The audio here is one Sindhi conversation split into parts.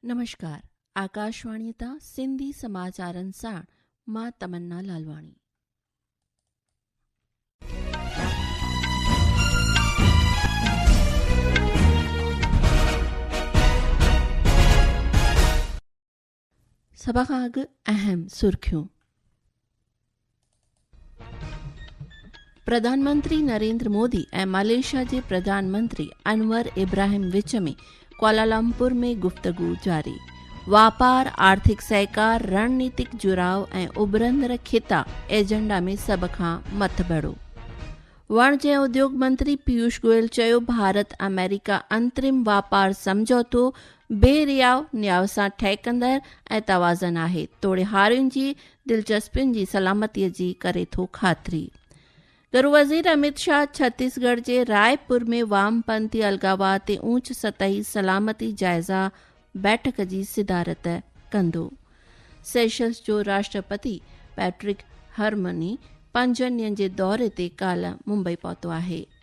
نمشڪار آڪاشواڻي تان سنڌي سماچارن ساڻ مان تمنا لالواڻي سڀ کان اڳ اهم سرخيون پرڌان منتري نريندر مودي ۽ ماليشيا جي پرڌان منتري انور ابراهيم وچ ۾ ڪوالالمپور ۾ گفتگو جاري واپار آرٿڪ سهڪار رڻنيتڪ جڙاء ۽ اڀرندڙ خطا ايجنڊا ۾ سڀ کان مٿ بڙو وڻج ۽ اديوگ منتري پيوش گوئل چيو ڀارت آمريڪا انترم واپار سمجھوتو بي رياء نياء سان ٺهڪندڙ ۽ توازن آهي، توڙي هارين جي دلچسپين جي سلامتيء جي ڪري ٿو خاطري. گهرو وزير اميت شاهه ڇتيس ڳڙهه جي راء پور ۾ وام پنٿي الغاوا تي اوچ سطحي سلامتي جائزه بيٺڪ جي صدارت ڪندو. سيشلز جو راشٽرپتي پيٽرڪ هرمني پنجن ڏينهن جي دوري تي ڪالهه ممبئي پهتو آهي.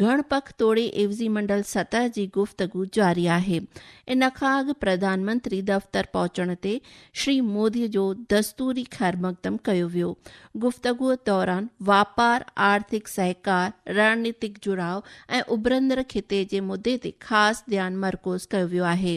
گهڻ پک توڙي عيوضي منڊل سطح جي گفتگو جاري آهي. ان کان اڳ پرڌان منتري دفتر پهچڻ تي شري مودي جو دستوري خيرمقدم ڪيو ويو. گفتگوء دوران واپار، آرٿڪ سهڪار، رڻنيتڪ جڙاء ۽ اڀرندڙ خطي جي مدي تي خاص ڌيان مرڪوز ڪيو ويو آهي.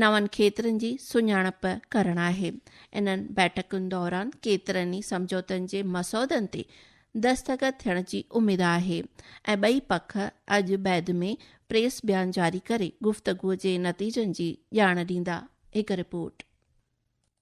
نون کيترن جي سڃاڻپ ڪرڻ آهي. انهن بيٺڪن دوران ڪيترن ئي سمجهوتن جي مسودن تي دستخط ٿيڻ جي اميد آهي ۽ ٻئي پک اڄ بعد ۾ پريس بيان جاري ڪري گفتگو جي نتيجن جي ڄاڻ ڏيندا، هڪ رپورٽ.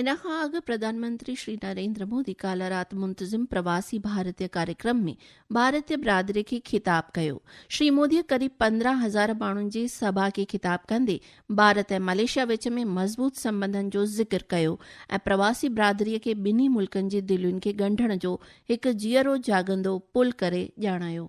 ان کان اڳ پرڌان منتري شري نريندر مودي ڪالهه رات منتظم پرواسي ڀارتي ڪاريڪرم ۾ ڀارتي برادري کي خطاب ڪيو شري مودي قريب پندرهن هزار ماڻهن جي سڀا کي خطاب ڪندي ڀارت ۽ ملائيشيا وچ ۾ مضبوط سمبنڌن جو ذڪر ڪيو ۽ پرواسي برادري کي ٻنهي ملڪن جي دلين کي ڳنڍڻ جو هڪ جيئرو جاڳندو پل ڪري ڄاڻايو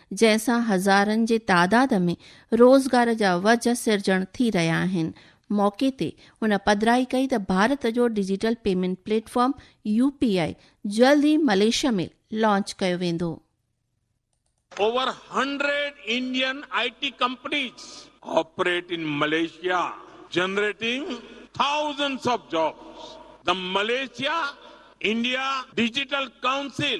جنهن سان هزارن جي تعداد ۾ روزگار جا وجهه سرجڻ ٿي رهيا آهن. موقعي تي هن پڌرائي ڪئي ته ڀارت جو digital payment platform U P I جلد ئي ملائيشيا ۾ لانچ ڪيو ويندو. Over hundred Indian I T companies operate in Malaysia generating thousands of jobs, the Malaysia India digital council,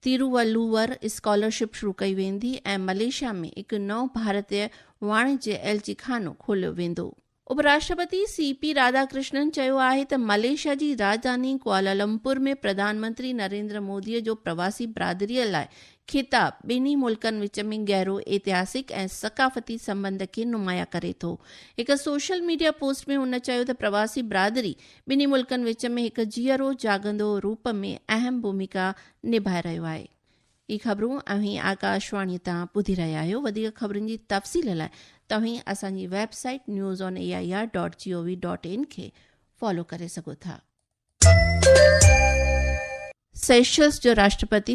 Thiruvalluvar scholarship شروع ڪئي ويندي ۽ ملائيشيا ۾ هڪ نئون ڀارتيه واڻجيه ايل جي خانو کوليو ويندو. اپ راشٽرپتي سي پي راڌا ڪرشنن چيو آهي ته ملائيشيا جي راڄڌاني ڪوالالمپور ۾ پرڌان منتري نريندر مودي جو پرواسي برادري لاء خطاب ٻنهي ملڪن وچ ۾ گهرو اتهاسڪ ۽ ثقافتي سنٻنڌ کي نمايان ڪري ٿو. هڪ سوشل ميڊيا پوسٽ ۾ هن چيو ته پرواسي برادري ٻنهي ملڪن وچ ۾ هڪ جيئرو جاڳندو روپ ۾ اهم ڀوميڪا نڀائي رهيو آهي. هي خبرون اوهين آڪاش واڻي تان ٻڌي رهيا آهيو وڌيڪ خبرن جي تفصيل لاء توهين اسان جي website news on A I R dot G O V dot in کي فالو ڪري سگهو ٿا. سيشلز جو راشٽرپتي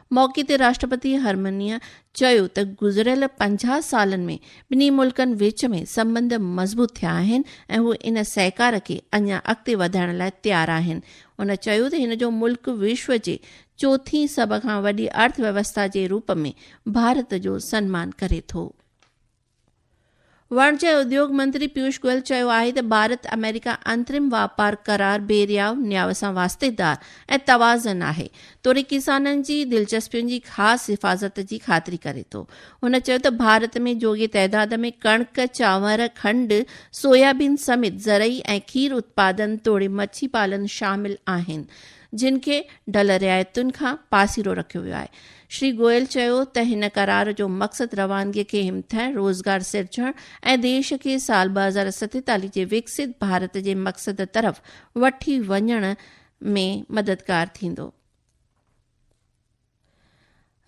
موقعي تي راشٽرپتي هرمنيء چيو ته گذريل پنجاهه سالن ۾ ٻنهي ملڪن وچ ۾ سنٻنڌ مضبوط ٿيا آهن ۽ هو ان سهڪار کي اڃا اڳتي وڌائڻ لاء تيار آهن. هن چيو ته هن جو ملڪ وشو جي چوٿين سڀ کان وڏي ارٿ ويوسٿا جي روپ ۾ ڀارت جو سنمان ڪري ٿو. واڻجي ۽ اديوگ منتري پيوش گوئل چيو آهي ته ڀارت آمريڪا انترم واپار قرار بي رياء نياء سان واسطيدار ۽ توازن آهي توڙي ڪسانن جي دلچسپين جي خاص حفاظت جي خاطري ڪري ٿو. هن چيو ته ڀارت ۾ جوڳي تعداد ۾ ڪڻڪ، چانور، کنڊ، سويابين سميت زرعي ۽ کير اتپادن توڙي مڇي پالن شامل آهن. جن کي ڍل رعايتن کان پاسيرو رکيو ويو آهي. شري گوئل چيو ته هن قرار جو مقصد روانگي کي همٿائڻ، روزگار سرجڻ ۽ ديش کي سال ٻه هزار ستيتاليهه جي وڪسيت ڀارت جي مقصد طرف وٺي وڃڻ ۾ مددگار ٿيندو.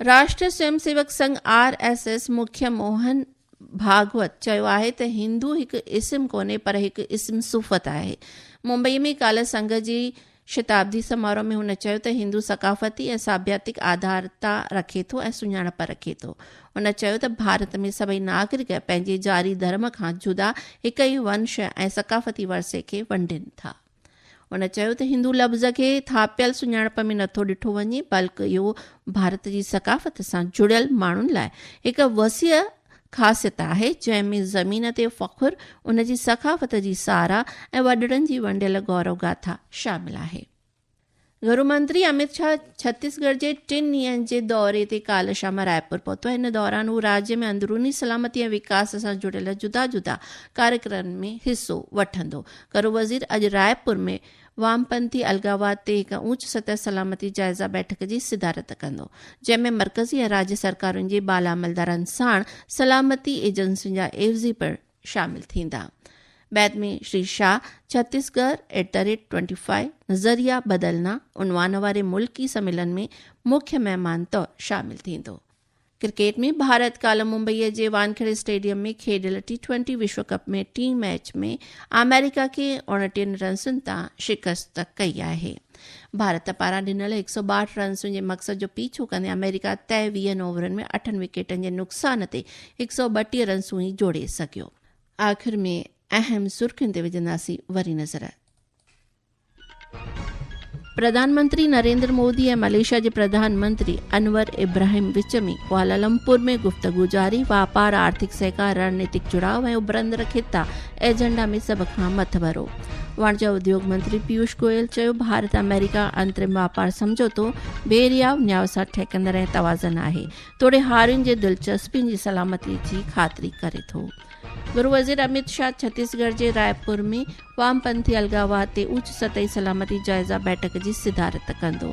راشٽري سويم سيوڪ سنگهه، آر ايس ايس، مکيه موهن ڀاگوت چيو آهي ته هندو هڪ اسم ڪونهي پر هڪ اسم صفت آهي. ممبئي ۾ ڪالهه سنگهه جي شتابدي سماروهه ۾ هن چيو ته هندو ثقافتي ۽ ساڀياتڪ آڌارتا رکي ٿو ۽ سڃاڻپ رکي ٿو. هن چيو ته ڀارت ۾ سڀئي ناگرڪ پنهنجي جاري ڌرم کان جدا هڪ ئي ونش ۽ ثقافتي ورثي کي ونڊين ٿا. هن چيو ته هندو لفظ کي ٿاپيل سڃاڻپ ۾ نٿو ڏٺو وڃي بلڪ اهو ڀارت جي ثقافت سان جڙيل ماڻهن لاء هڪ وسيع خاصيت آهي جنهن ۾ زمين تي فخر ان جي ثقافت جي ساراهه ۽ وڏڙن جي ونڊيل گورو گاٿا شامل آهي گهرمنتري اميت شاهه ڇتيس ڳڙهه جي ٽن ڏينهن جي دوري تي ڪالهه شام رائپور پهتو، ان دوران هو راڄ ۾ اندروني سلامتي ۽ وڪاس سان جڙيل جدا جدا ڪاريڪرمن ۾ حصو وٺندو. گهرو وزير اڄ رائپور ۾ وامپنٿي الغاوات تي هڪ اوچ سطح سلامتي جائزه بيٺڪ جي صدارت ڪندو، جنهن ۾ مرڪزي ۽ راڄ سرڪارن جي بالا عملدارن ساڻ سلامتي ايجنسين جا عيوضي پڻ شامل ٿيندا. بعد ۾ Shri Shah Chhattisgarh at the rate twenty five, نظريه بدلنا، عنوان واري ملڪي سميلن ۾ مکيه مهمان طور شامل ٿيندو. ڪرڪيٽ ۾ ڀارت ڪالهه ممبئي جي وانکيڙي اسٽيڊيم ۾ کيڏيل ٽي ٽوئنٽي وشو ڪپ ۾ ٽئين ميچ ۾ آمريڪا کي اوڻٽيهن رنسن تان شڪست ڪئي آهي. ڀارت پاران ڏنل هڪ سؤ ٻاهٺ رنسن جي مقصد جو پيڇو ڪندي آمريڪا طئي ويهن اوورن ۾ اٺن وڪيٽن جي نقصان تي هڪ سؤ ٻٽيهه رنسون ئي جوڙي سگهيو. آخر ۾ اهم سرخين تي وجهنداسين وري نظر. پرڌان منتري نريندر مودي ۽ ملائيشيا جي پرڌان منتري انور ابراهيم وچ ۾ ڪوالالمپور ۾ گفتگو جاري واپار آرٿڪ سهڪار رڻنيتڪ جڙاء ۽ اڀرندڙ خطا ايجنڊا ۾ سڀ کان مٿڀرو واڻجا اديوگ منتري پيوش گوئل چيو ڀارت آمريڪا انترم واپار سمجھوتو بي رياو نياء سان ٺهڪندڙ ۽ توازن آهي توڙي هارين جي دلچسپين جي سلامتي جي خاطري ڪري ٿو گهرو وزير اميت شاهه ڇتيس ڳڙهه جي راء پور ۾ وام پنٿي الغاوات تي اوچ سطحي سلامتي جائزه بيٺڪ جي صدارت ڪندو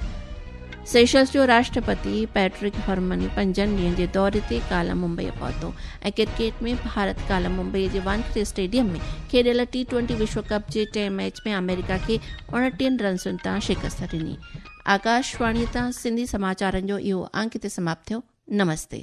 سيشلز جو راشٽرپتي پيٽرڪ هرمن پنجن ڏينهن جي دوري تي ڪالهه ممبئي پهتو ۽ ڪرڪيٽ ۾ ڀارت ڪالهه ممبئي جي وانکڙي اسٽيڊيم ۾ کيڏيل ٽي ٽوئنٽي وشو ڪپ جي ٽئين ميچ ۾ آمريڪا کي اڻٽيهن رنسن تان شڪست ڏني آڪاشواڻي تان سنڌي سماچارن جو اهو انڪ هتي سماپت ٿيو نمستي